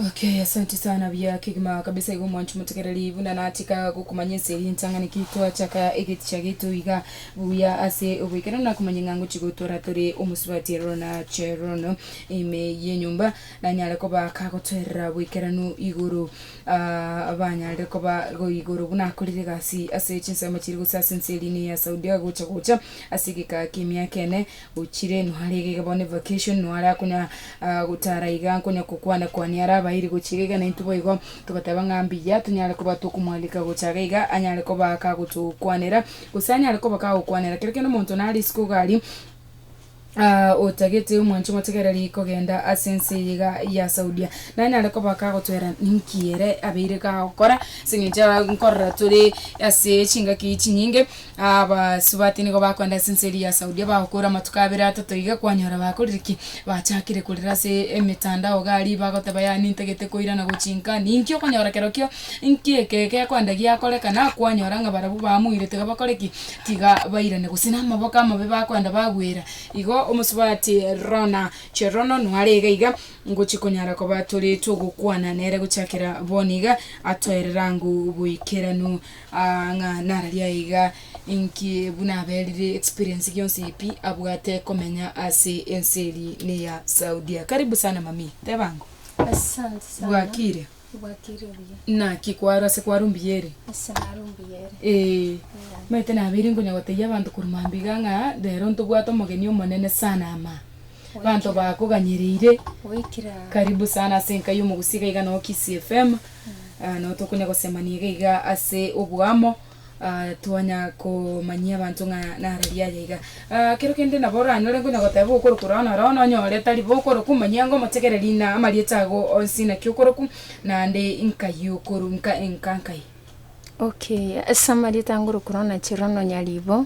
Okay, asante sana bia kigima kabisa igo mwancho mutegereri buna natika gokumanya ense eri entang'ani ki twachaka egeticha gitu iga buya ase ogoikera na kumanya ng'a ngochi gotwara tore omosubati ero na cherono ime yenyomba nanyare koba kagotwerera boikeranu igoro abanyarire koba igoro buna akorire egasi ase chinsemo chiria gose ase ense erinde ya Saudi agocha gocha ase egeka ki'emiaka ene ochire nware iga iga bono evacation nware akonya gotara iga nkonya gokwana kwania are abairi gochia iga iga naintwe boigo togoteba ng'a mbuya tonyare koba tokomwalika gocha iga iga anyare koba kagotokwanera gose anyare koba kagokwanera kera kende omonto nare isiko iga aria. Aa otagete omwancho motegereri kogenda ase ense eye iga ya Saudia. Nani are kobaka agotwera ninki ere abeire iga agokora? Ase engencho aa nkorora tore ase chingaki chinyinge, abasubati nigo bakogenda ase ense eria ya Saudia bagokora amatuko abere atato iga kwanyora bakorire ki? Bachakire korera ase emetandao iga aria bagoteba yaani ntagete koirana gochinka ninki okonyora kerokio inki eke gekoenda giakorekana kwanyora ng'a barabwo baamoirete iga bakore ki? tiga bairane, gose namaboko amabe bakoenda bagwera, igo omosubati Rona Cherono noare iga iga ngochia konyara koba tore togokwana nere gochakera bono iga, atoerere ang'o boikeranu aa ng'a nararia aye iga inki buna aberire experience gionsi pi abwate komenya ase ense eri ne ya Saudia. Karibu sana mamii, teba ang'o. Asante sana. Bwakire. Naki kwaro ase kwaro mbuya ere? Ee, manyete nabeire nkonya gotebia abanto korwa mambia iga ng'a rero ntobwate omogeni omonene sana ama. Abanto bakoganyereire, karibu sana ase enka ya omogusia iga iga noo Kisii FM, nabo tokonya gosemania iga iga ase oboamo. twanya komanyia abanto ng'a naro riaye iga. kero kende nabo oranyore nore ngonya goteba okorokwa ororo noro bono onyore tari bo okorokwa omanye ango omotegereri ng'a amarieta ago onsi naki okorokwa naende nkai okoru nka nka nkai. Okay ase amarieta ngorokwa ororo nache ororo nonya ribo.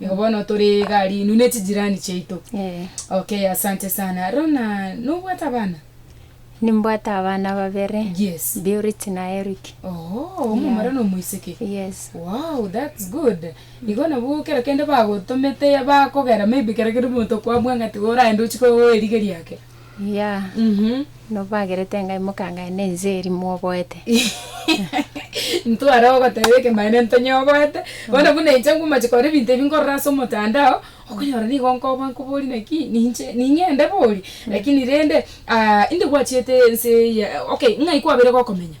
Nigo bono tore iga rinu ne chijirani chiaito. Eeh. Okay, asante sana. Rona, nobwate abana? Nimbwate abana babere. Yes. Beurit na Eric. Oho, omomura Yeah. na omoiseke. Yes. Wow, that's good. Igo nabo kero kende bagotomete bakogera maybe kero kende omonto kwabua ng'a tiga oraende ochike oerigerie ake. Iya, nobagerete ng'ai mokangaya nense eria mwoboete? Ntware ogoteba ekemanero ntonyoboete. Bono buna inche ngomache kore ebinto ebi nkorora ase omotandao, okonyora nigo nkoba nkobori naki ninche ning'ende bori. Lakini rende, ah, inde gwachiete ense eye, okay, ng'ai kwabeire gokomenya?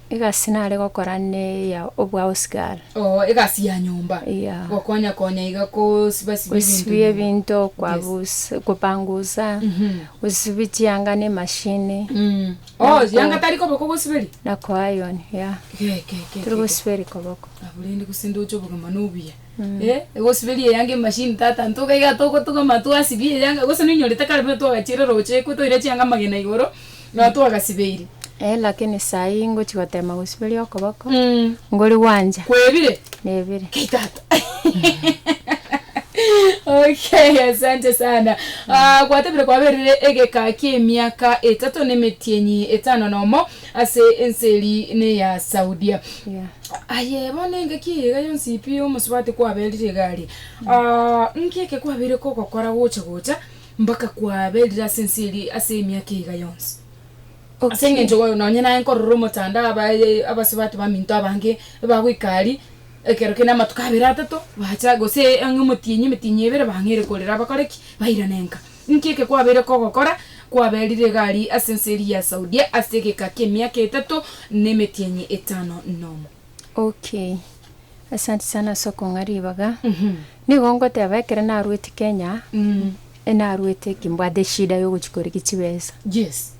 Egasi nare gokora neya obwagosigara. Oo, egasi ya nyomba. Eya. Gokonya konya iga kosiba siba ebinto. Gosibia nyomba. ebinto Yes. kopangusa, gosibia chianga ne machine. Mm. Oo, chianga tari koboko gosiberi? Na ko iron, ya. Ge, ge, ge, Tari ge, ge. gosiberi koboko. Abwo rende gose ndoche obogima nobuya. Eh, egosiberia eyanga emachine tata ntoka iga togotugama twasibia eyanga gose noinyorete kare buna twagachire roche ekwe toira chianga amagena igoro. Nonya twagasibeire. Eh, lakini saa eye ingochi gotema gosiberia okoboko, ngori gwancha. Kwebire? Nebire. Kei tata. Okay, asante sana. Ah, gwatebire kwaberire egeka ki'emiaka etato nemetienyi etano nomo ase ense eri neya Saudia. Yeah. Aye bono engaki eye iga yonsi pi omosubati kwaberire iga aria. Ah, nki eke kwabeire kogokora gocha gocha? Mpaka kwaberire ase ense eria ase emiaka eiga yonsi. Ase Okay. engencho oyo nonye naye nkorora omotanda aba abasubati baminto abange ebagoika aria ekero kende amatuko abere atato bacha gose ang'e omotienyi emetienyi ebere bang'eire korera bakore ki? Bairane nka. Inki eke kwabeire kogokora? Kwaberire iga aria ase ense eria ya Saudia ase egeka ki'emiaka etato na emetienyi etano nomo. Ok. Asanti sana ase okong'a ribaga. Nigo ngoteba ekero narweti Kenya, enarwete ki mbwate eshida ya ogochi korigia chibesa. Yes.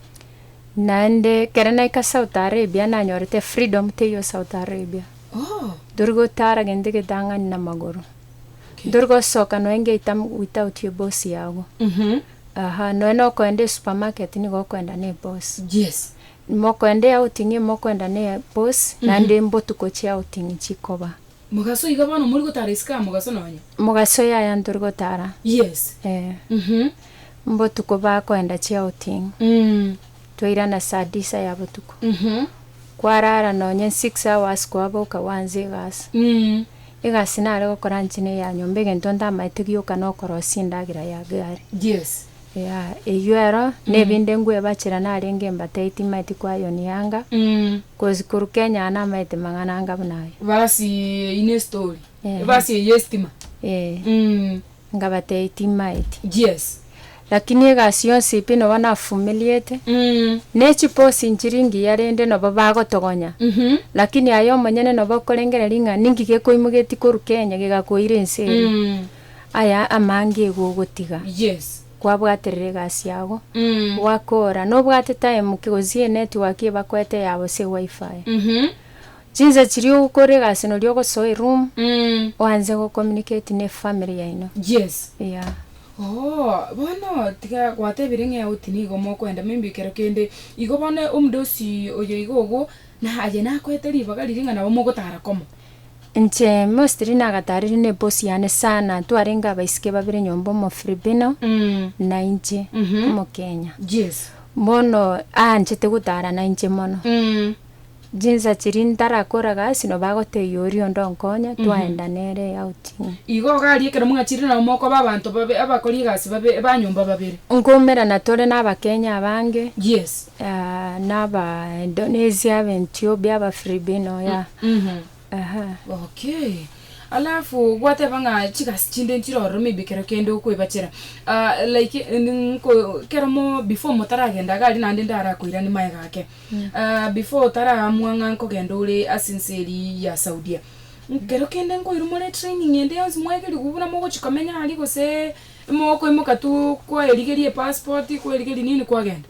Naende ekero naika South Arabia nanyorete freedom teiyo South Arabia. Oh. Ntori gotara gento getang'ani na amagoro. Ntori gosoka noe ngeita m- without eboss yago. Aha, noe nokoenda esupermarket nigo okoenda na eboss. Yes. Mokwenda eaoting'i mokwenda ne bosi, naende mbotuko chiaoting'i chikoba. Mogaso iga bono mori gotara isiko aa mogaso nonya. Mogaso yaya ntori gotara. Yes. Eh. Mhm. Mbotuko bakoenda chiaoting'i. Mm. Twairana saa disa ya botuko. Mhm. Kwarara nonya six hours kwaboka gwanze egasi. Mm. Egasi nare gokora nchine ya nyomba egento ntamaete gioka nokorosia endagera ya gari. Yes. Yea, eyio ero nebinde ngwebachera narenge embatei timaeti kwayonianga, gose koruka enyana amaete mang'ana anga buna aye. Basi eyi ne story. Ehe. Basi eyi estima. Ee, Mm. ngabatei timaeti. Yes. Lakini egasi yonsi pi nobo nafumiliete, Mm. ne chiposi nchiri ngiya rende nobo bagotogonya, Mhm. lakini aye omonyene nobo okorengereria ng'a ninki gekoimogeti koruka enye gegakoire ense eri. Mm. Aya amange igo ogotiga kwabwaterera egasi yago, gwakoora, nobwate time ki gose enetwork ebakoete eyabo gose eWiFi. Chinsa chiria ogokora egasi noria ogosoa eroom oanse gocommunicate ne efamily yaino. Eeh. Ooh, bono tiga gwatebire ng'a eout nigo mokoenda maybe ekero kende, igo bono omudosi oyoiga ogo, na aye nakoete ribaga riria ng'a nabo mogotara komo. Inche mostly nagataarire na eboss yane sana twarenge abaisike babere nyomba omofilipino na inche omokenya Yes. bono aanchete gotara na inche mono chinsa chiria ntarakora gasi nabo agotebia oria onde onkonya twaenda nere outing Igo iga aria ekero mwachire nabo mokoba abanto babe abakori egasi babe ba nyomba babere. Nkoumera na tore na abakenya abange Yes. ya naba Indonesia aba Ethiopia aba Filipino ya ehe. Okay. Alafu gwateba ng'a chigasi chinde nchire ororo maybe ekero kende okwebachera ah, like ndi nko kero mo before motaragenda iga aria naende ndarakoirani maega ake ah, before otaraamua ng'a nkogenda ore ase ense eria ya Saudia ekero kende nkoirwa more training ende yonsi mwaigeriwu buna mogochia komenya aria gose mokoimoka tu kwaerigeria epassport kwaerigeria nini kwagenda?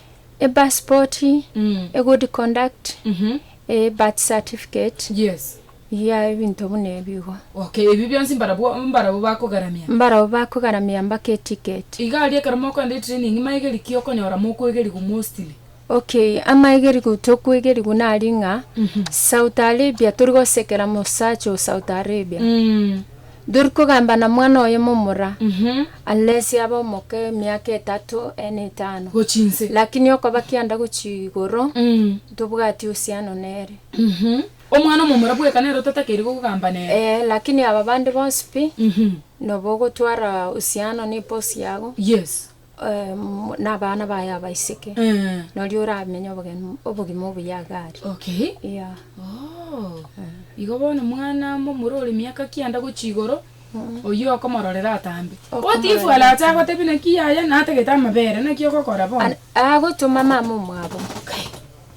E passport, e good conduct, e birth certificate, Yes. iga ebinto buna ebio igo. Okay, ebio bionsi mbarabwo mbarabwo bakogaramia. Mbarabwo bakogaramia mpaka e ticket. Iga aria ekero mokoenda e training maegeri ki okonyora mokoegerigwa mostly? Okay, amaegerigu tokoegerigu nari ng'a Saudi Arabia tori gosekera mosacha o Saudi Arabia. Tori kogamba na mwana oye momura, alesi abe omoke emiaka etato ene etano, Gochi inse. lakini okoba kianda gochi igoro, ntobwati usiano nere. Omwana omomura bweka nere otatakeiri gogamba nere. Ee, lakini aba bande bonsi pi, nobo ogotwara usiano niposi yago. Yes. na abana baye abaiseke, noria oramenye obogeni obogima obuya iga are. Okay. Yeah. Oh. Igo bono mwana amo omoro ore miaka kianda gochia igoro, oyio okomororera atambe. Okomororera What if alache atambe. agotebie naki yaya natagete amabere, naki ogokora bono? An- agotoma mama omwabo. Okay.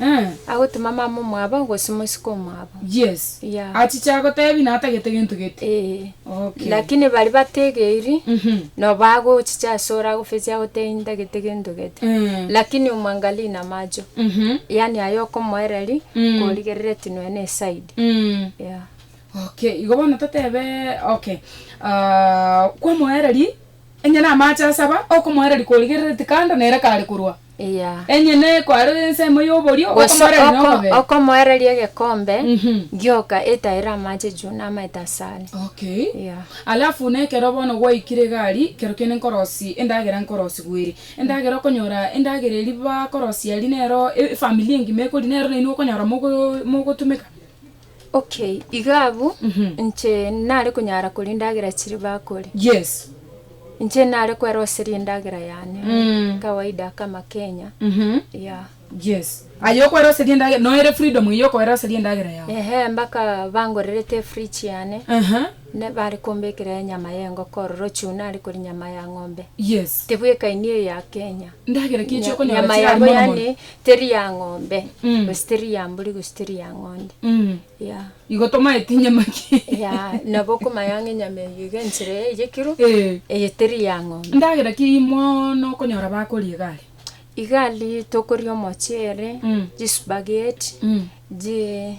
Eh. Agotema mama omwabo gose mosike omwabo. Yes. Yeah. Achiche agotebi na atagete gento gete. Ee. Okay. Lakini baria bategeiri Mhm. no bagochicha ase ore agofesie agotebi ntagete gento gete. Mm. Lakini omwangalie na macho. Mhm. Yaani aye okomoereri Mm. korigerere tinwe ne side. Mm. Yeah. Okay, igo bono totebe okay. Ah, kwamoereria enye na amache asaba okomoereria korigerereti kando nere kare korwa. eya. Enyene kwarora ensemo y'oborio, Gose okomoereria oko nokobee. okomoereria egekombe Mhm. gioka etaire amache juu namaete asare. Okay. Eya. Alafu nekero bono gwaikire egari kero kende nkorosi endagera nkorosi gweri endagera okonyora endagera eri bakorosi ari nero efamily engima ekori nero nainwe okonyora mogo mogotumeka. Okay, iga abwo, inche nare konyara koria endagera chiria bakore. Yes. Inche nare kweroseria endagera yane, kawaida kama Kenya, yeah. Yes. Aye okweroseria endagera, noyo ere freedom eyio okoeroseria endagera yao? Ehe, mpaka bangorerete efridge yane, Aha. ne bare kombekera enyama ya engoko ororochio nare koria nyama ya ng'ombe. Yes. Tebwekaini eyo ya Kenya. Ndagera ki echio Nya- okonyora nyama chirari yabo mono mono? yane Teri ya ng'ombe, Mm. gose teri ya mbori, gose teri ya ng'onde. Mm. Yeah. Igo tomaete enyama ki? Yeah, nabo okomanya ng'a enyama eyio iga enchera eye ya ekiro, Eh. eye teri ya ng'ombe. Endagera ki eyio mono okonyora bakoria igare? Igari tokoria omocheere, Mm. chisupageti, Mm. ji-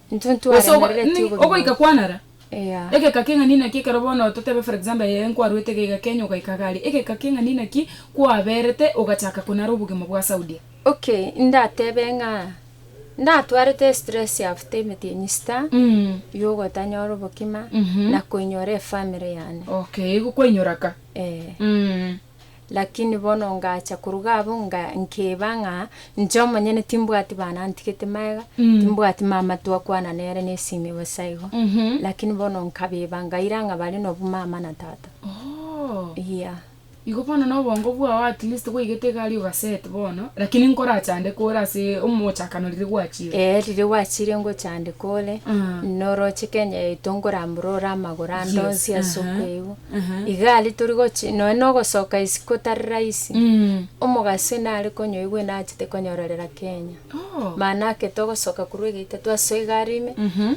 Intwe Gose ogo- ntwaremerereti ni- obogima ogoika bwaito. kwanara. Eya. Egeka keng'ani naki ekero bono totebe for example aye nkwarwete egeka Kenya ogaika iga aria. Egeka keng'ani naki kwaberete ogachaka konara obogima bwa Saudia? Okay, ndatebe ng'a ndatwarete estress after emetienyi sita Mm. yogotanyora obokima Mhm. na koinyora efamily yane. Okay, igo kwainyora ka. Eh. Mm. Lakini bono ngacha koruga abwo nga nkeba ng'a inche omonyene timbwati bana ntigete magega, timbwati mama twakwana nere nesimi bosa igo. Lakini bono nkabeba ngaira ng'a bare nobwo mama na tata. Oh. Iya. Igo bono na obongo bwao at least gwaigete egari ogaset bono, lakini nkorachandeke ore ase omochakano riria gwachire. Ee riria gwachire ngochandeka ore, Mm. noroche Kenya yaito nkorambora ore amagoro ande Yes, onsi ase aha. okoigwa. igari tori gochi nonya na ogosoka isiko tari rahisi omogaso nare konyoigwa ena achete konyororera kenya oh. mana ake togosoka kurwa egeita twasoa igari ime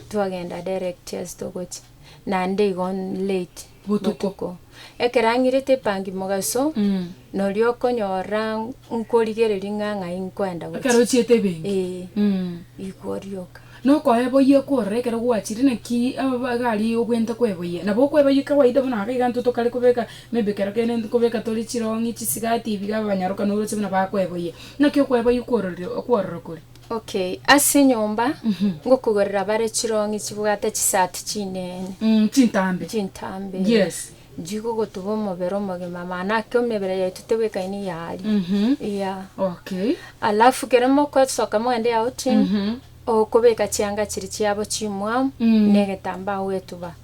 twagenda direct as togochi nande igo late botuko ekerang'irete epangi mogaso mm. Norio okonyorora nkorigereria ng'a ng'ai nkoenda gochia. Ekero ochiete ebenki. Ee. Mm. Igo orioka. Nokoeboyia kworora ekero gwachire naki egari obwente kweboyia. Nabo okweboyia kawaida buna ake iga intwe tokare kobeka maybe kero kende ntokobeka tore chirong'i, chisigati ebi iga abanyaroka noroche buna bakweboyia. Naki okweboyia kwororire kworora kore? Okay, ase enyomba. Mhm. Ngokogorera bare chirong'i chibwate chisati chinene. Mm, chintambe. Chintambe. Yes. Chigogotuba omobere omogima mana ake emebere yaito tebwekaine iga aria iga. Okay. Alafu kere mokosoka mogende ya outing okobeka chianga chiria chiabo chimwamu na egetambaa ogetuba.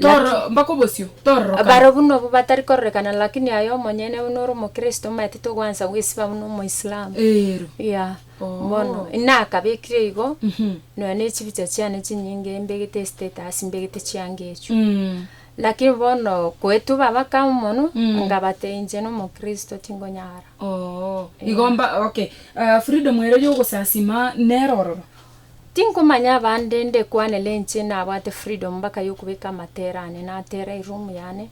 Tororo mpaka obosio tororokana. Baro buna obwo batari kororekana lakini aye omonyene buna ore omokristo omanyete togoansa goisiba buna omoislamu. Eero. Yeah. Bono nakabekire igo nonya ne chibicha chiane chinyinge mbegete estatus mbegete chianga echio. Naki bono koetuba bakama mono, ngabate inche nomokristo tingonyara. Oo, igo mba, okay. Ah, freedom ere y'ogosasima nero ororo? Tinkomanya abande ndekwanere inche nabwate freedom mpaka yokobeka amatera ane natera eroom yane,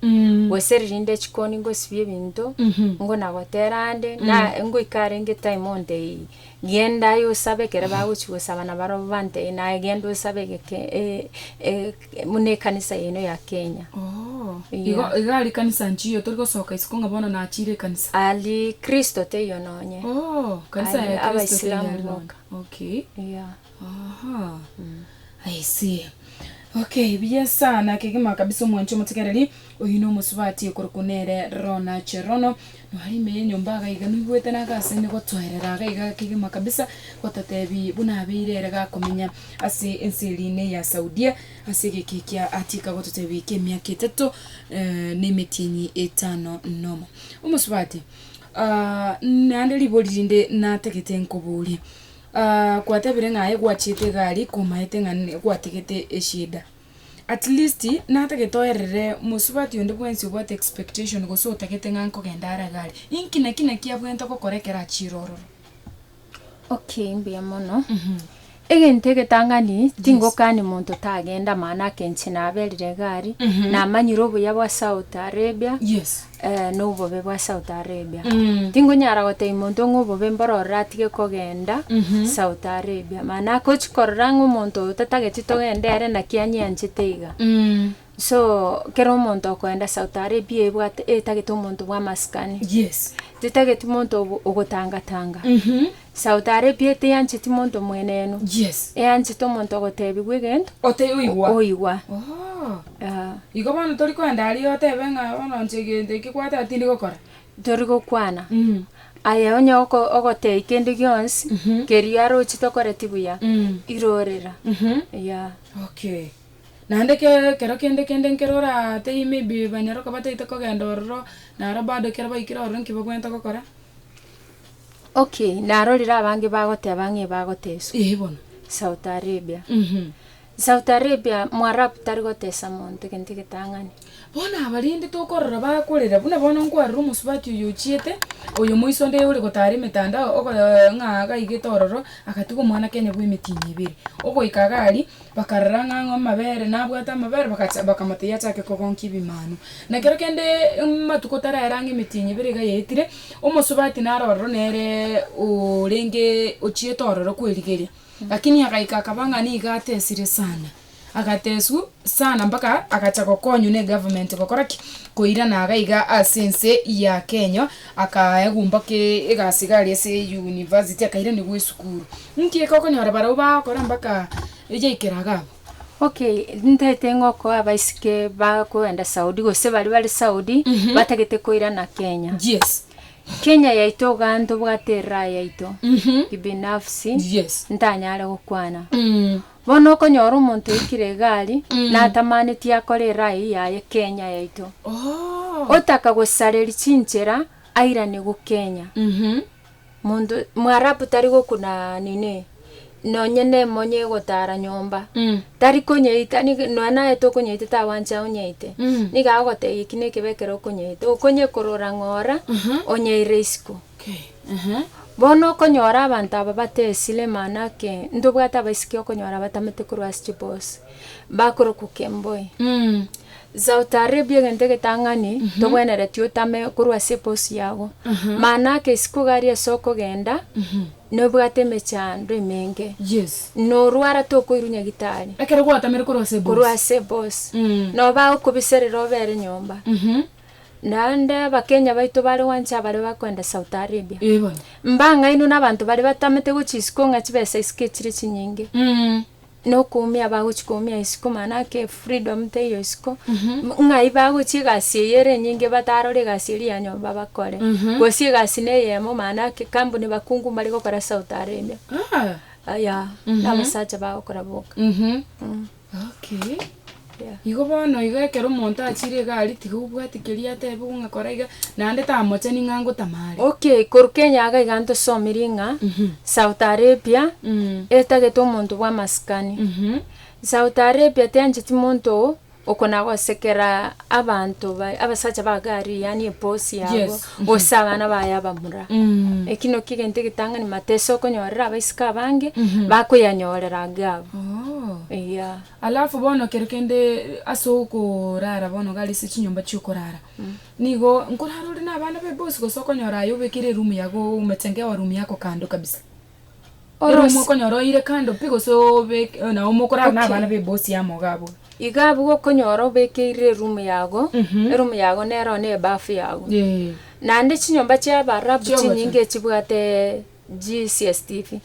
gose riria inde chikoni ngosibia ebinto, ngona gotera ande, na ngoika arenge time onteiyi genda aye osabe ekero bagochia gosaba nabarobwo bantebie naye genda osabe egeke e- e- Buna ekanisa yaino ya Kenya. Oh, igo, Yeah. iga ari kanisa nchiyo, tori gosoka isiko ng'a bono nachire ekanisa. Ari Kristo teiyo nonye. Oh, kanisa Ari ya Kristo Abaisilamu teyari nonye. boka. Okay. Yeah. Aha. I see. Okay, buya sana, kegima kabisa omwancha omotegereri. Oyio nomosubati okorokwa nere Rona Cherono, noare ime yenyomba agaiga noigwete naga ase nigotoerera agaiga kegima kabisa gotatebi buna abeire ere gakomenya ase ense eria ne ya Saudia ase egeka ekia atiika gototebi kemiaka etato na emetienyi etano nomo. Omosubati, naende ribori rinde natagete nkoborie, kwatebire ng'a aye gwachiete egari komaete ng'a gwatagete eshida. At least natagete oerere mosubati onde bwensi obwate expectation gose otagete ng'a nkogenda are iga are. Inki naki naki abwenerete gokora ekero achire ororo? Okay, mbuya mono. Egento egetang'ani tingokani monto tagenda maana ake inche naberire iga aria, namanyire obuya bwa South Arabia, Yes. Ee, nobobe bwa South Arabia. Tingonyara gotebia monto ng'a obobe mboro ororo atige kogenda South Arabia. Mani agochi korora ng'a omonto oyo tatageti togende ere naki anyeanchete iga. So, kero omonto okoenda South Arabia ebwate etagete omonto bwa amasikani. Yes. Tetageti monto ogo- ogotangatanga. Sauti arepie teyancheti monto mwenenu, Yes. eyanchete omonto ogoteebigwa egento, Ote oigwa. oigwa. Oh. Ah, Igo bono tori koenda aria otebe ng'a bono inche egento eke kwateba tindi gokora. Tori gokwana. Mm. Aye onye oko- ogotei kende gionsi, Mhm. kerio arochi tokoreti buya, Mm. irorera. Mhm. Yeah. Okay. Naende ke ekero kende kende nkero oratei maybe banyare okobataete kogenda ororo, naro bado ekero baikire ororo nki bagwenerete gokora? Okay, narorire abange bagoteba ng'a ebagoteswa. Ee bono. Saudi Arabia. Mhm. Saudi Arabia mwarabu tari gotesa monto egento egetang'ani. Bono abarende tokorora bakorera buna bono nkwarire omosubati oyo ochiete oyo moiso nde ore gotara emetandao ogo ng'a agaigete ororo agatiga omwana Kenya bw'emetino ebere. Ogoika iga aria Bakarora ng'a ang'o amabere, nabwate amabere, bagacha bakamotebia achake kogonkia ebimanu. Na ekero kende amatuko taraera ang'e emetienyi ebere iga yaetire, omosubati nare ororo nereee orengeee ochiete ororo kwerigeria, lakini agaika akaba ng'a nigo atesire sana, agatesiwa sana mpaka agacha gokonywa na egovernment gokora ki, koirana iga iga ase ense ya kenya, akaegumba kee egasi iga aria ase eyunivasiti akairanigwa esukuru. Inki eke okonyora barabwo bagokora mpaka eyaikera iga abwo? Okay, ntagete ng'okoa abaisike bakoenda Saudi gose baria bare Saudi batagete koirana Kenya. Yes. Kenya yaito igaa ntobwate eraha yaito kibinafsi ntanyare gokwana. Bono okonyora omonto oikire iga ari natamanetie akore eraha eyio yaye Kenya yaito. Otaka gosareri chinchera airaniwu Kenya. Monto Mwarabu tari gokuna nini, nonye nemonye egotara nyomba, tari konyeita, nigo nonya naye tokonyeita tawancha onyeite, nigo agotebia eki nekebe ekero okonyeita, okonyekorora ng'ora onyeire isiko. Bono okonyora abanto aba bate esire mana ake, ntobwate abaisiki okonyora batamete korwa ase chiboosi, bakorokwa kemboi. Zaa otarebie egento egetang'ani togwenereti otame korwa ase epousi yago. Maana ake isiko gari ase okogenda, nobwate emechando emenge, Yes. norwara tokoirwa nyagitari Ekero gwatamire korwa ase korwa ebosi. ase ebosi. Mm. Noba okobiserera obere nyomba. Mhm. Naende abakenya baito bare gwancha abare bakoenda South Arabia. Ee bono. Mbang'ainwe nabanto baria batamete gochia isiko ng'a chibesa isiko echire chinyinge. Mm. nokoumia abagochi koumia isiko mana ake freedom teiyo isiko ng'ai bagochi egasi eye ere enyinge batarore egasi eria ya nyomba bakore gose egasi ne eyemo mana ake kambuni bakungu mbare gokora south arabia aya nabasacha bagokora boka. Igo bono iga ekero omonto achiire egari, tiga obwate keria ateebigwe ng'a kora iga, naende tamochani ng'a ngotama are. Okay, korwa Kenya iga iga ntosomirie ng'a South Arabia etagete omonto bwa amasikani. South Arabia teancheti monto okona gosekera abanto baye, abasacha ba gari yaani eboss yabo, gose abana baye abamura. Eki naki egento egetang'ani matesokonyorera abaiseke abange, bakoyanyorera age abwo. Eeh. Alafu bono ekero kende ase okorara bono gari ase chinyomba chiokorara, nigo nkorara ore na abana baye bonsi gose okonyora aye obekire eroom yago oumete nka ewa room yako kando kabisa. Eroom okonyora oeire kando pi gose obeke nabo mokorara na abana baye bonsi amo iga abwo. Iga abwo okonyora obekeire eroom yago, eroom yago nero ne ebafu yago. Naende chinyomba chiabarabu chinyinge chibwate GCSTV,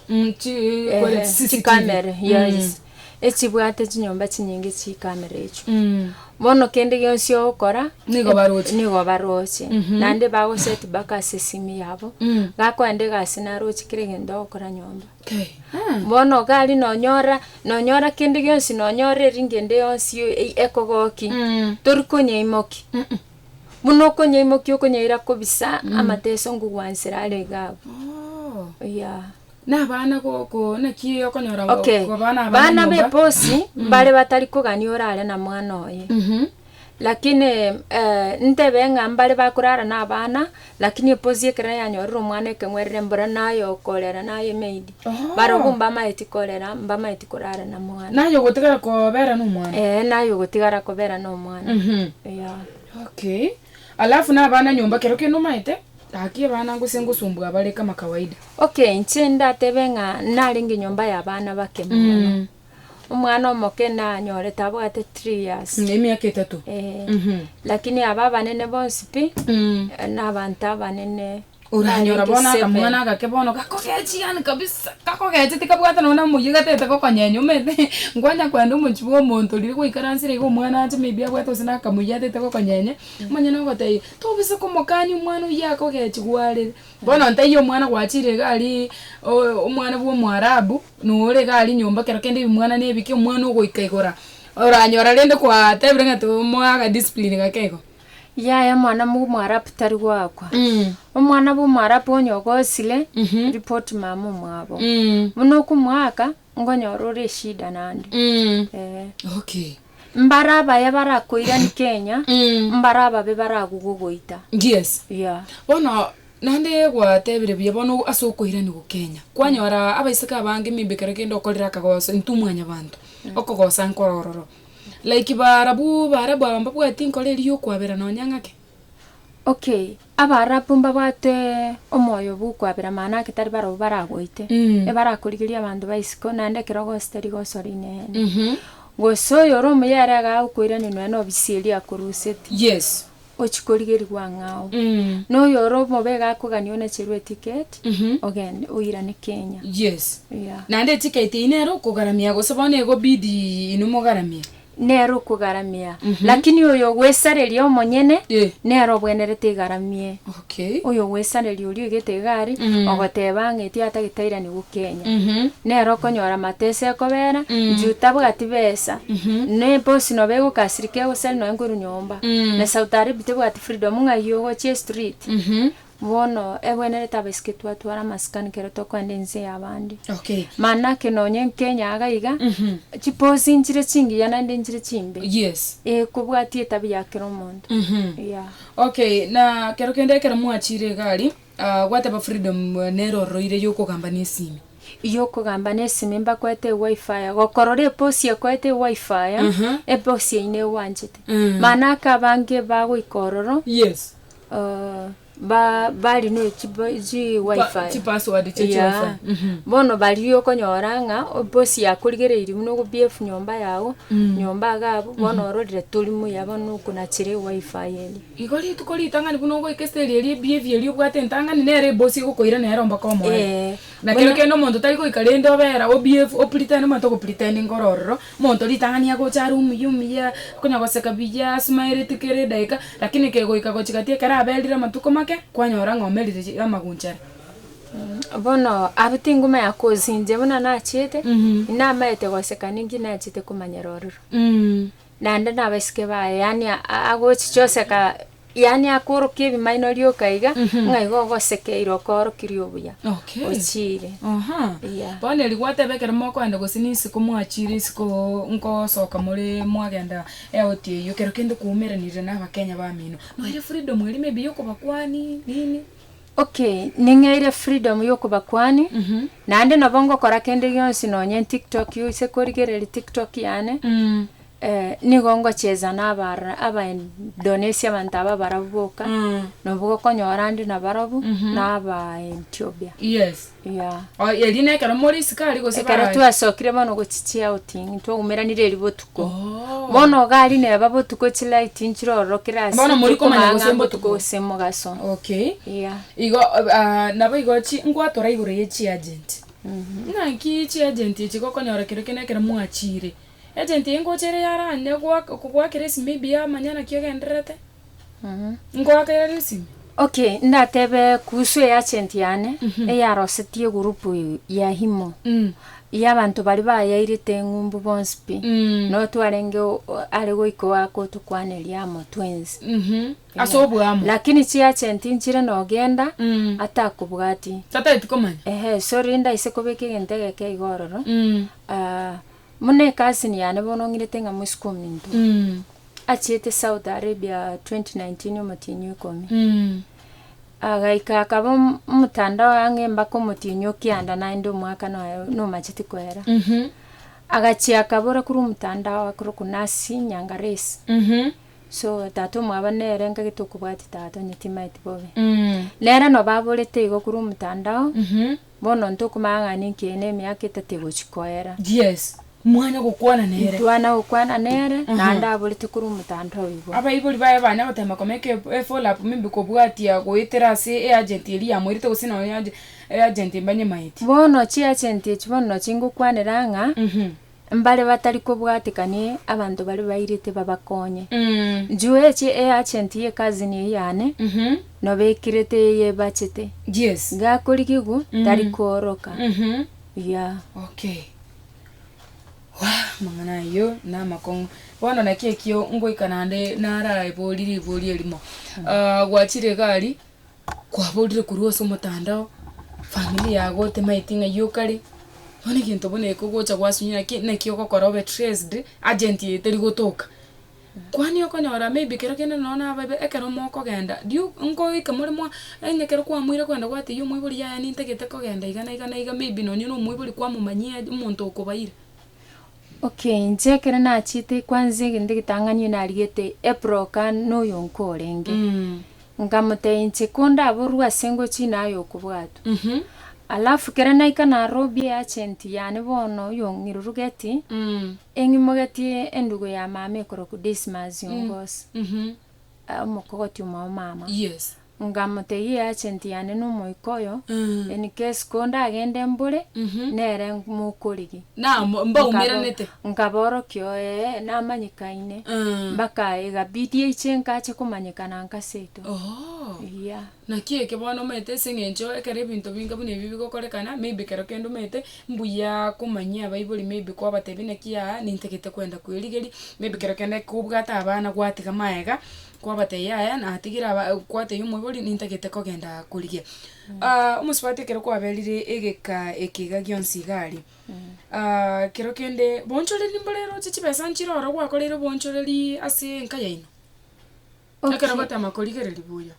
eeh, chikamera, yes, echibwate chinyomba chinyinge chikamera echio. Bono kende gionsi ogokora, Nigo baroche. nigo baroche. Naende bago set back ase esimi yabo, gakoenda egasi naroche kera egento ogokora nyomba. Bono gari nonyora, nonyora kende gionsi, nonyora eringende yonsi e- ekogokia, tori konyaimokia. Buna okonyaimokia okonyaira kobisa amateso ngogwansera are iga abwo. Oh. Yeah. Na abana goko naki okonyora go- Okay. go bana abana Bana nyomba? b'eposi mbare batari kogania orare na mwana oye. Mhm. Lakini eh, ntebe ng'a mbare bakorara na abana Lakini eposi ekero yanyorire omwana ekeng'werere mbora naye okorera naye maid. Oho. Barobwo mbamaeti korera, mbamaeti korara na mwana. Naye ogotigara kobera nomwana. Eeh naye ogotigara kobera nomwana. Mhm. Eyaa. Okay. Alafu na abana nyomba kero kende omaete gaki abana gose ngosumbua abare kama kawaida. Okay inche ndatebe ng'a narenge nyomba ya abana bake mono. Mm. Omwana omoke nanyore tabwate three years. Mm, emiaka etato. Eh, Mhm. lakini aba abanene bonsi pi Mm. eh, nabanto abanene oranyora Naringi bono seven. akamwana agake bono gakogechi yani kabisa gakogeche tikabwate nonye namoyia gatete gokonyenya omanyete nkwanya kwenda omochi bwa omonto riria gwaikaransire iga omwana ache maybe abwate gose nakamoyia atete gokonyenya omanye nogotebia tobe se komokania omwana oyio akogechi gwarire bono ntaiyo omwana gwachire iga aria o- omwana bwa omoarabu Nore iga aria nyomba kero kende ebimwana ne ebike omwana ogoika igoro oranyora rende kwa tebire ng'a to omoe aga discipline gake igo. Yaya omwana mo mwarabu tari goakwa. Omwana bwa omwarabu onye ogosire, report mama omwabo. Buna okomoaka, ngonyora ore eshida naende. Eeh. Okay. Mbare abaye barakoirani kenya, mbare ababe baragogogoita. Yes. Yeah. Bono naende gwatebire buya bono ase okoiranigwa Kenya. Kwanyora abaiseke abange maybe ekero kende okorire akagoso intwe mwanyabanto okogosa nkoro ororo. Like baarabu baarabu aba mbabwati nkoro eria ya okwabera nonya ng'ake. Okay. Abaarabu mbabatwe omoyo bw'okwabera mana ake tari barabwo baragoite, ebarakorigeria abanto ba isiko, naende ekerogo gose tari gosora inene. Gose oyore omoyare agaae okoirania nonya nobisi eria akoruseti, ochie korigerigwa ang'e ao. Na oyore omobe iga akoganie onacherwe etiketi, ogende oirane Kenya. Naende etiketi eyio nere okogaramia gose bono egobidi inwe mogaramie? nere okogaramia, lakini oyogwesareria omonyene nere obwenerete igaramie. Oyogwesareria oria oigete egari ogoteba ng'a etia atagetairani gokenya, nere okonyora amatesa ekobera juu tabwati besa, ne bosi noba egokasirika egosari noe nkoru nyomba, na Saudi Arabia tebwati freedom ng'ai ogochia estreet, Bono, ebwenerete abaiseke twatwara amasikani kero tokoenda ense y'abande. Okay. Mana ake nonye nkenya iga iga, chiposi nchire chingiya naende nchire chimbe. Yes. Ee, kobwatia etabia ya kera omonto. Yeah. Okay, na kero kende ekero mwachire iga aria, ah, gwateba Freedom nere ororoire yokogamba nesimi. Yokogamba nesimi mbakoete ewaifaya, gokorora eposi ekoete ewaifaya, Aha. eposi eyio negwanchete. Mana ake abange bagoika ororo. Yes. bari ne chiwifi yeah bono baria okonyora ng'a bosi akorigereiri buna okobeef nyomba yago, nyomba iga abwo bono ororire tori muya bono okonachire ewifi eye. Igo rituko ritang'ani buna ogoika eseri eria ebeef eria obwate entang'ani nere ebosie egokoira nere omba komoe. Nakero kende omonto tari goika rende obera obeef opretend omanyete ogopretendinga ororo Monto ritang'ani agocha are omuya omuya, okonya goseka buya, asmiletie kera edageka, lakini kegoika gochia gati ekero aberire amatuko make, kwanyora ng'a omerire chi amaguncha are. Bono abwo tingomanya kosinchia buna nachiete, inamaete goseka ninki nachiete komanyera ororo. Naende nabasike baye yaani a- a- agochicha oseka. Yaani akoorokia ebimaino rioka iga, ng'a igo ogosekeirwe okoorokirie obuya Okay. ochiire. Aha. Yeah. Bono erio gwateba ekero mokoenda gose n'isiko mwachiire isiko nkosoka more mwagenda eoti eyio kero kende kwaumeranire na abakenya bamino. Noeire freedom eria maybe yokobakwani nini. Okay, ning'eire freedom yokobakwani, naende nabo ngokora kende gionsi nonye nTiktok oise korigereria Tiktok yane. Ee, nigo ngochicha nabara Abaindonesia abanto aba abarabu boka, nabo gokonyora ande nabarabwo, na Abaentiopia. Yes. Yeah. O, erio nekero more isiko aria gose Ekero baraye. twasokire bono gochichia outing, twaumeranire eri botuko. Oh. Bono gari neba botuko chilight nchirorokire ase Bono mori komanya tokomanya gose botuko mbotuko. gose mogaso. Okay. Yeah. Igo ah, nabo igo chi ngwatora igoro ye chiagent. Naki chiagent echi gokonyora kerokio nekero mwachire, Agent eye ngocha ere yarande goak kogwakera esimi ebiya manya naki ogendererete. Nkoakerera esimi. Okay, ndatebe kuhusu e agent yane eyarosetie group ya imo yabanto baria bayairete eng'umbu bonsi pi noo twarenge o- o- are goika oakotukwaneria amo twens Ase oboamo. lakini chi agent nchire nogenda atakobwati. Tataeti komanya. Ehe sorry ndaise kobeka egento egeke iga ororo ah, Buna ekasini yane bono ng'irete ng'a mosike ominto achiete South Arabia 2019 omotienyi o ikomi. Agaika akaba om- omotandao ang'e mbaka omotienyi o kianda naende omwaka noyo nomacheti koera. Agachia akabora korwa omotandao akorokwa Nasi Nyangaresi. So tata omwabo nere ngagete okobwatia tata onye timaeti bobe. Nere nabo aborete igo korwa omotandao Bono ntokomang'ana inki na emiaka etato egochia koera? Yes. Mwanya gokwana nere. Ntwana gokwana nere, naende aborete korwa omotanda oyo igoro. Abaibori baye banya gotema komeka e e follow-up mimbe kobwatia goetera ase e agent eria yamoirete gose nonya e agent e agent mbanyemaeti. Bono chi agent echi bono nochi ngokwanera ng'a. Mbare batari kobwatekania abanto baria bairete babakonye. Njueche e agent ye cousin eyio Anne, nobekerete eye ebachete. Gakorigigwa tari kooroka. Yeah. Waah, amang'ana ayio namakong'u. Bono naki ekio ngoika naende naraebori ribori erimo. Gwachire egari. Kwaborire korwa ase omotandao, familia yago temaeti ng'a iywo kare, bono egento bono eke ogocha gwasunywa naki naki ogokora obe traced, agent eye teri gotoka. Kwani okonyora maybe kero kende nonya na ababe ekero mokogenda, riu nkoike more mwa onye ekero kwamoire kogenda gwatebia omoibori yaya nintagete kogenda iga na iga na iga maybe nonya na omoibori kwamomanyia omonto okobaire. Okay, inche ekero nachete kwanza egento egetang'ani oyo nariete ebroka noyo nkorenge. Nkamotebia inche kondaborwe ase ngochie naye oyo okobwatwa. Alafu kero naika Nairobi eagent yane bono oyo ong'irurugeti, eng'imogetie endugu ya mama ekorokwa Dismas Ongos, omokogoti omwa omama. Ngamotegia eagenti yane n'omoika oyo, in case ko ndagende mbore, nere mokorigia. Na mo- mbaumeranete. Nkabaorokia oye namanyikaine. Mpaka igabidi aiche nkache komanyekana nkaseto. Ooh. Eya. Naki eke bono omanyete ase eng'encho ekero ebinto binga buna ebi bigokorekana, maybe kero kende omanyete mbuya komanyia abaibori maybe kwabatebia naki aa nintagete kwenda kwerigeria, maybe kero kende kobwate abana gwatiga magega, Kwabatebia, Yaya, natigire aba kwatebia omoibori nintagete kogenda korigia. omosubati ekero kwaberire egeka ekiga gionsi iga aria, ekero kende boonchoreri mbore roche chibesa nchire oro gwakoreire oboonchoreri ase enka yaino, ekero gotema korigereria buya.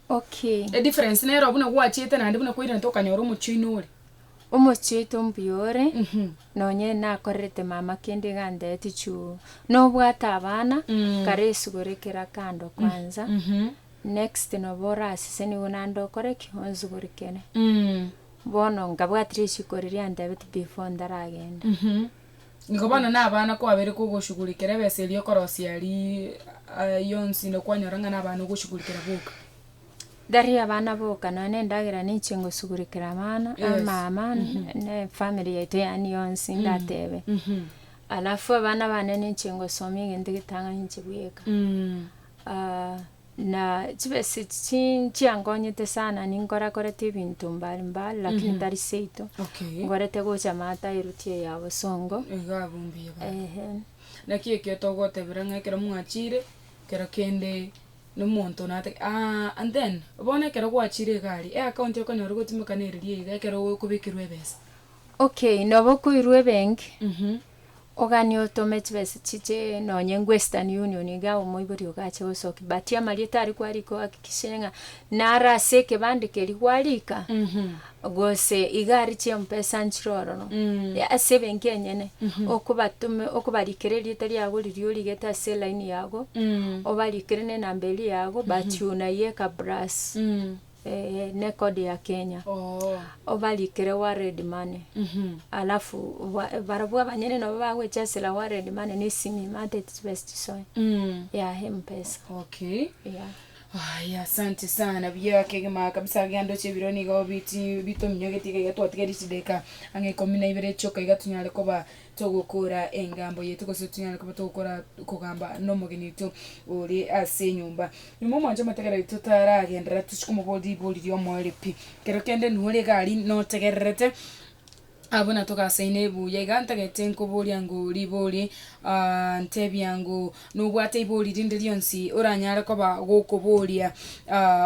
Okay. E difference nero buna gwachiete naende buna kwairente okanyora omochie oino ore. Omochie oito ombuya ore, Mhm. nonye nakorerete mama kende iga antebetie chuu, nobwate abana, Mm. kara esugore kera kando kwanza, Mhm. next nabo orasese nigo naende okore ki? Onsugurikere. Mm. Bono nkabwati risiko riria antebetie before ntaragende. Mhm. Nigo bono nabana kwabere kogoshugurikera ebesa eria okorosia aria ayio onsi na kwanyora ng'a nabana ogoshugurikera boka. Gari abana boka nonya na endagera ninche ngosugurikera abana Yes. amama ne efamiri yaito yaani yonsi ndatebe alafu abana bane ninche ngosomia egento getang'ani inche bweka. Na chibesa echi chi nchiangonyete sana, ninkorakorete ebinto mbari mbari lakini tari seito, Okay. ngorete gocha maata eruti eye ya bosongo. Iga abwo mbuya baba. Ehe. Naki ekio togotebera ng'a ekero mwachire, kero kende nomonto nate aa and then bono ekero gwachire egari, eaccount okonyora gotimokana eriria iga ekero okobekirwe ebesa. Okay, nabo okoirwa ebenki. oganie otome chibesa chichee nonye nko Western Union igaa omoibori ogache gosokia but amarieta aria kwarika ohakikishe ng'a naro ase ekebande keria gwarika gose iga aria chiompesa nchire ororo ya ase ebenki enyene okobatome okobarikera erieta riago riria origete ase elaini yago obarikere nenamba eria yago but unayeka plus. Eeh ne code ya Kenya obarikere world money alafu barabwo abanyene nabo bagochesera world money ne simi maate its best soe ya mpesa Okay. yeah. Aya, asante sana buya kegima kabisa iga ndoche ebiro nigo biti bitominyogetie iga iga twatiga echideka ang'e ikomi na ibere chioka iga tunyare koba Togokora engambo yaito gose tonyare koba togokora okogamba nomogeni oito ore ase enyomba. Nyuma omwancha omoteger oito taragenderera tochi komoboria ribori ri'omoerio pi. Ekero kende nore egari notegererete, abwo na togasaine buya iga ntagete nkoboria ngo ribori ntebia ngo nobwate ribori rinde rionsi oranyare koba gokoboria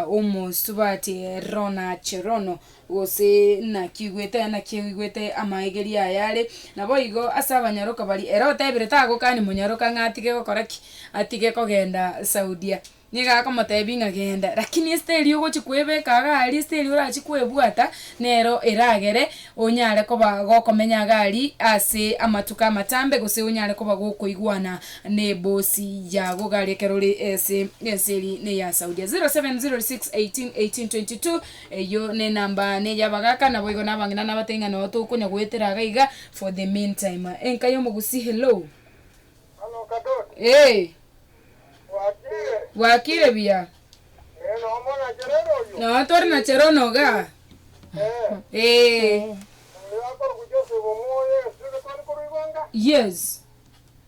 omosubati rona cherono. Gose naki oigwete? Naki oigwete amaegerio aya are? Naboigo ase abanyaroka baria, ere otebire tagokani monyaroka ng'a atige gokora ki? Atige kogenda Saudia. Nigo akomotebia ng'a genda, rakini esete eria ogochi kwebeka iga aria, esete eria orachi kwebwata, nero eragere onyare koba gokomenya iga aria ase amatuko amatambe, gose onyare koba gokoigwana na ebosi yago iga aria ekero ore ase ense eria na eya Saudia. 0706181822. Eyio nenamba ane yabagaka, naboigo nabang'ina nabatebia ng'a noo tokonya goetera iga iga for the mean time. Enka y'omogusii hello. Hano Kadot. Eeh. Bwakire. Bwakire buya. Eeh noo mona Chereno oyio. Noo tore na Cherono igaa. Eeh. Eeh. Oyo akorugu Joseph omoyo Yesu iga twari koruigwa nga. Yes.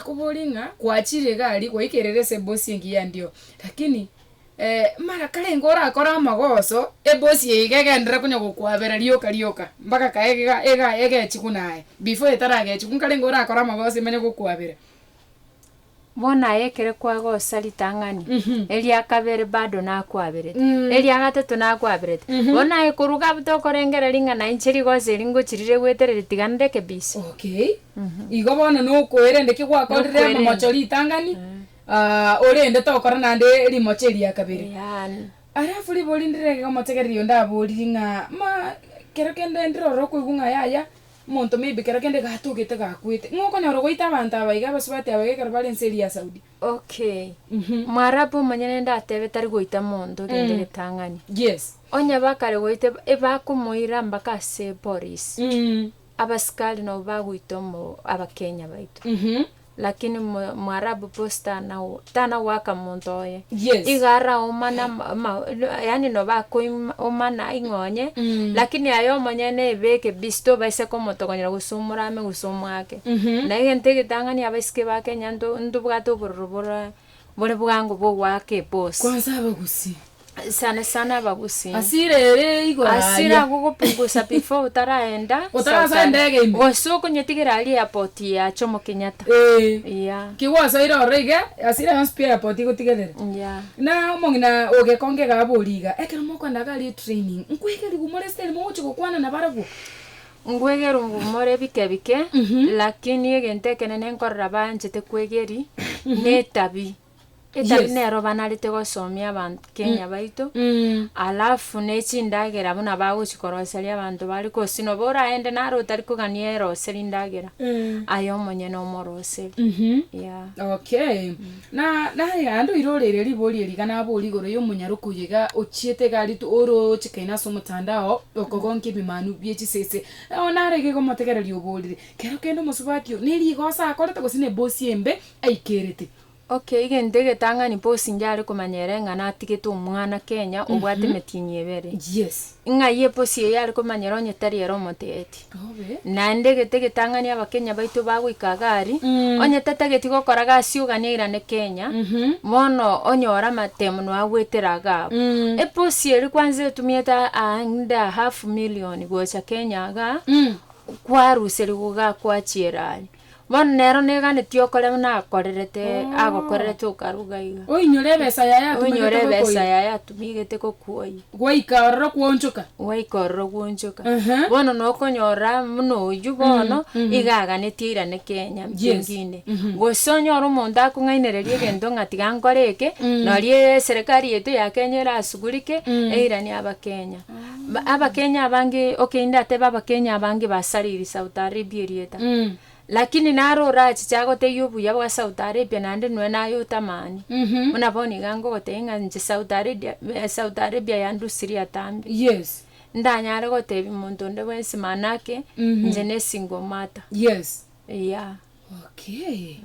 Akoborie ng'a, Kwachire iga aria goika erere ase ebosi engiya endiyo? Lakini ee, mara karenge orakore amagoso, ebosi eye iga egenderere konya gokwabera rioka rioka, mpaka kae iga iga egechie buna aye. Before etaragechie, buna karenge orakore amagoso emanye gokwabera. Bono aye ekero kwagosa ritang'ani, eria kabere bado nakwaberete, eria gatato nakwaberete. Bono aye koruga tokorengera ring'ana inche rigoso eri ngochirire gwetereri tiga ndeke busy. Okay. Igo bono nokoerende ki gwakorire Nokoerende. momocho ritang'ani, ah, orende tokora naende rimocho eria kabere. Eyaani. Alafu ribori ndire gomotegereri onde aboriri ng'a ma kero kende ndirora okoigwa ng'a yaya monto maybe kero kende gatogete gakwete. Ng'a okonyora goita abanto aba iga abasubati aba iga ekero bare ense eria ya Saudi. Okay. Mhm. Mwarabu omanye nende atebe tari goita monto rende Mm. ritang'ani. Yes. Onye bakare goita eb- ebakomoira mpaka ase eporisi. Mm. Abasikari nabo bagoita omo Abakenya baito. Lakini mo Mwarabu bosi tana tana goaka monto oye. Yes. Iga ara omana ma yaani no bakoi omana ing'onye. Lakini aye omonyene ebeke busy tobaisa komotogonyera gose omorame gose omoake. Na egento egetang'ani abaisike ba Kenya nto ntobwate obororo bore. Bore bwango bw'ogoaka epoosi. Kwanza abagusi. Sana sana abagusi. Hasira ere igoro aria. Hasira agwo gopungusa before otaraenda. Otarasa endege ime. Gose okonyetigera aria airport ya Jomo Kenyatta. Eeh. Yeah. Ki gwasoire ororo iga, hasira yonsi pi airport igotigerere. Yeah. Na omong'ina ogekonge iga aborie iga, ekero mokoenda iga aria etraining, nkwegeri gumore style mogochia gokwana nabarabwo? Ngwegerwe ngumore ebike bike, lakini egento ekenene nkorora banchete kwegeri netabi. Etabi Yes. nero banarete gosomia abanto Kenya baito, alafu nechindagera buna bagochi koroseria abanto bare gose noba oraende naro otari kogania erose rindagera, aye omonyene omoroseri. Yeah. Okay. Na naende oiroreire ribori eri iga nabori igoro y'omonyaroki oyo iga ochiete iga aritwe orooche kaini ase omotanda oo okogonkia ebimanu bie chisese. Nao narege iga omotegereri oborire, Kero kende omosubati oo nerigoso akorete gose nebosie embe aikerete. Ok, egento egetang'ani bosi inche are komanya ere ng'a natigete omwana Kenya obwate emetienyi ebere. Yes. Ng'ai eposi eye are komanyera onye tari ere omoteeti? Naende egete getang'ani abakenya baito bagoika agari, onye tatageti gokora gasi ogania irane Kenya, bono onyore amatemo noe agwetera iga abo. Eposi eri kwanza etumiete aande a half million gocha Kenya iga, kwaruseri goga kwachiera aria. Bono nero neganetie okore buna akorerete, Oh. agokorerete okaruga iga. Oinyore ebesa yaye atumagete Oinyore ebesa gokoira. yaye atumigete gokuoyia. Gwaika ororo kwoonchoka. Gwaika ororo gwonchoka. Aha. Bono nokonyora buna oyio bono, mhm. iga aganetie airaneke enyama Yes. chengine. Mhm. Gose onyore omonto akong'ainereria egento ng'a tiga nkore eke, noria eserikari yaito ya Kenya erasugurike, eiranie abakenya. Abakenya abange okay indatebe abakenya abange basariri Saudi Arabia erieta lakini nare orachiche agotebia obuya bwa Saudi Arabia naende nonya naye otamani buna bono iga ngogotebia ng'a inche Saudi Arabia Saudi Arabia yandusirie atambe Yes. ndanyare gotebia omonto onde bwensi manake inche ne single mother. Yes. Eyaa. Okay,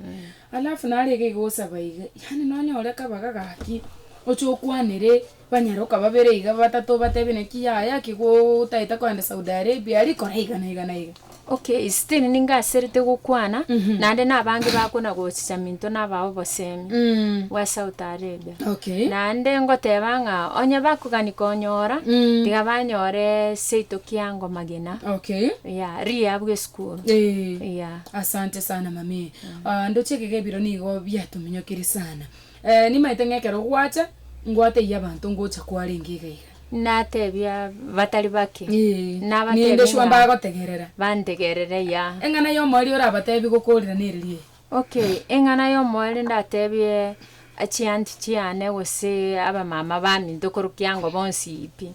alafu nare iga igosaba iga, yaani nonyore kabaga gaki, oche okwanere banyaroka babere iga batato obatebie naki yaya ake go otaete kogenda Saudi Arabia aria kora iga na iga na iga. Okay, still ninga aserete gokwana, naende na abange bakona gochicha minto naba obosemi, Mm. bwa South Arabia. Okay. Naende ngoteba ng'a onye bakogani konyora, Mm. tiga banyore seito kiango magena, Okay. yeah, riya bw'esukuru. Eh. Yeah. Asante sana mamee, aah ndoche ekega ebiro nigo biatominyokirie sana. Eeh nimaete ng'a ekero gwacha, ngwateyie abanto ngocha kwarenge iga iga. Natebia batari bake, Eeh, nabatebie ninde sure ng'a mbagotegerera. bantegerere ya. Eng'ana y'omoerio orabatebie gokorirana ereria eye. Okay, eng'ana y'omoerio ndatebie Achianti chiane gose abamama baminto korokio ango bonsi pi.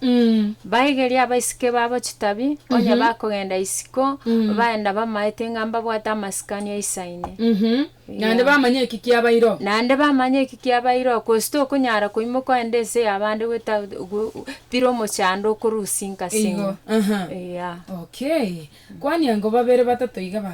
Baigerie abaiseke babo chitabi, onye bakogenda isiko, bae nabamaete ng'a mbabwate amasikani aisa ine. Naende bamanye eki kiabairo. Naende bamanye eki kiabairo, gose tokonyara koimoka ogende ense y'abande goeta bire omochando okorusia inkasi Igo, enywe. aha. Eya. Okay. Kwania ngo babere batato iga ba.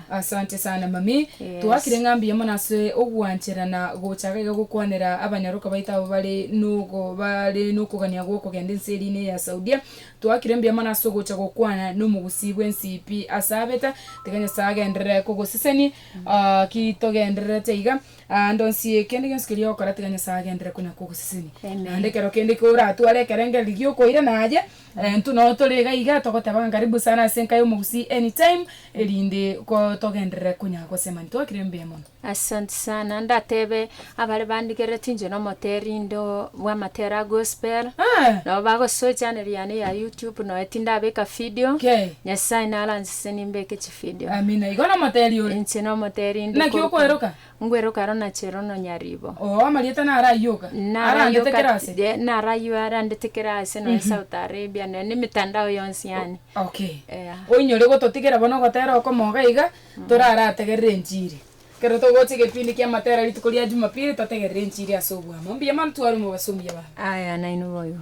Asante sana mami. Twakire ng'a mbuya mono ase ogwanchera na gocha iga gokwanera abanyaroka baito abo bare nogo bare nokogania gwokogenda ense erine eya Saudia. Twakire mbuya mono ase ogocha gokwana nomogusii bwensi pi ase abeta. Tiga Nyasae agenderere kogoseseni ki togendererete iga ande onsi. Kende gionsi keria ogokora tiga Nyasae agenderere konya kogoseseni. Naende ekero kende koratware ekerengereri giokoirana aye Intwe noo tore iga iga togoteba ng'a karibu sana ase enka y'omogusii anytime erinde togenderere konya gosema ntwakire mbuya mono. Asanti sana, ndatebe abare bandigereti inche na omoteri ndo bw'amatera a gospel, Aah! nabo bagosoa echanel yane ya YouTube noe tindabeka video, Kei. Nyasae naranse nimbeke chivideo. Amina. Igo nomoteri ore. Inche nomoteri inde Naki korwa okweroka? Ngwero karo na chero nonyaribo. Oo amarieta naro ayio iga. Naro ayio Arandete kera ase. kati, eh, naro ayio arandete kera ase nonya South Arabia, nonya na emetandao yonsi yaani. Okay. Ea. Oinyore gototigera bono ogotera okomoga iga, torarategerere enchiri. Ekero togocha egepindi kia matera rituko ria Jumapili totegerere enchiri ase obwamo. Mbuya mono twaruma abasomi abange. Aya nainwe boigo.